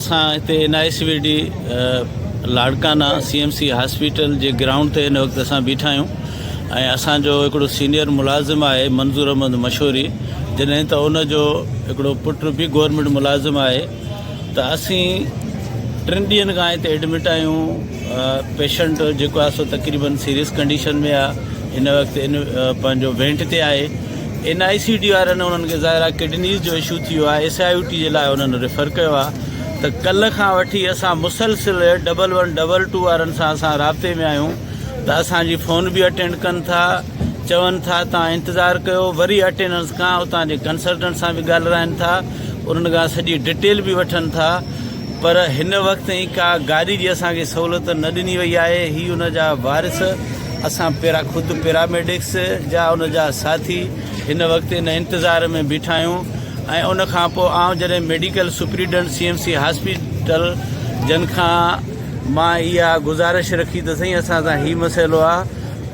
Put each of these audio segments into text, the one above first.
اسان هتي N I C V D Larkana C M C hospital جي گرائونڊ تي هن وقت اسان بيٺا آهيون ۽ اسان جو هڪڙو سينيئر ملازم آهي منظور احمد مشوري جڏهن ته ان جو هڪڙو پٽ به گورنمنٽ ملازم آهي ته اسين ٽن ڏينهن کان هتي ايڊمٽ آهيون پيشنٽ جيڪو آهي سو تقريبن سيريس ڪنڊيشن ۾ آهي هن وقت ان پنهنجو وينٽ تي آهي اين آء سي ڊي وارن انهن کي ظاهرا ڪڊنيز جو اشو ٿيو آهي ايس آء يو ٽي جي لاء انهن ريفر ڪيو آهي ته ڪلهه کان وٺي اسان مسلسل ڊبل ون ڊبل ٽو وارن سان اسان رابطي ۾ آهيون ته اسان جي فون به اٽينڊ ڪن ٿا چون ٿا تان انتظار ڪيو وري اٽينڊنس کان اتان جي ڪنسلٽنٽ سان به ڳالهرائن ٿا انهن کان سڄي ڊٽيل به وٺن ٿا پر هن وقت تائين ڪا گاڏي جي اسان کي سهولت نه ڏني وئي آهي هي ان جا وارث اسان پيرا خود پيراميڊڪس جا ان جا ساٿي هن وقت ان انتظار ۾ بيٺا آهيون ۽ ان کان پوء آئون جڏهن medical superintendent C M C hospital جن کان مان اها گزارش رکي ته سائين اسان سان هي مسئلو آهي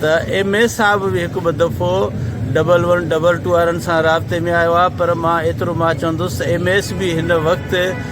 ته ايم اي صاحب به هڪ ٻه دفعو ڊبل ون ڊبل ٽو وارن سان رابطي ۾ آيو آهي پر مان ايترو مان چوندس ايم ايس به هن وقت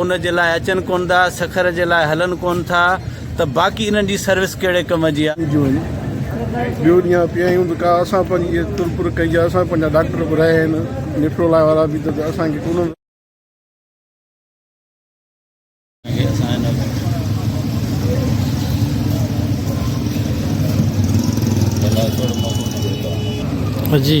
ان جي لاء اچن ڪون ٿا، سکر جي لاء هلن ڪون ٿا ته باقي انهن جي سروس ڪهڙي ڪم جي آ؟ جو وڃي ٻيو ڏينهن آ پيا آهيون ته ڪا اسان پنهنجي اهي تر پر ڪئي آ، اسان پنهنجا ڊاڪٽر به رهيا آهن، نيفرولائي وارا به ته اسان کي ڪونه. هي اسان هن ۾ ڀلا ٿورو موقعو ڏيو. جي.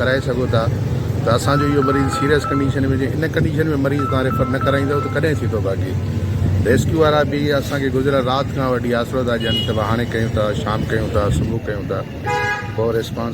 ڪرائي سگهو ٿا ته اسان جو اهو مريض سيريس ڪنڊيشن ۾ هجي ان ڪنڊيشن ۾ مريض تان ريفر نه ڪرائيندو ته ڪڏهن ٿيندو باقي ريسڪيو وارا به اسان کي گذريل رات کان وٺي آسرو ٿا ڏين ته هاڻي ڪيون ٿا شام ڪيون ٿا صبح ڪيون ٿا پوء ريسپانس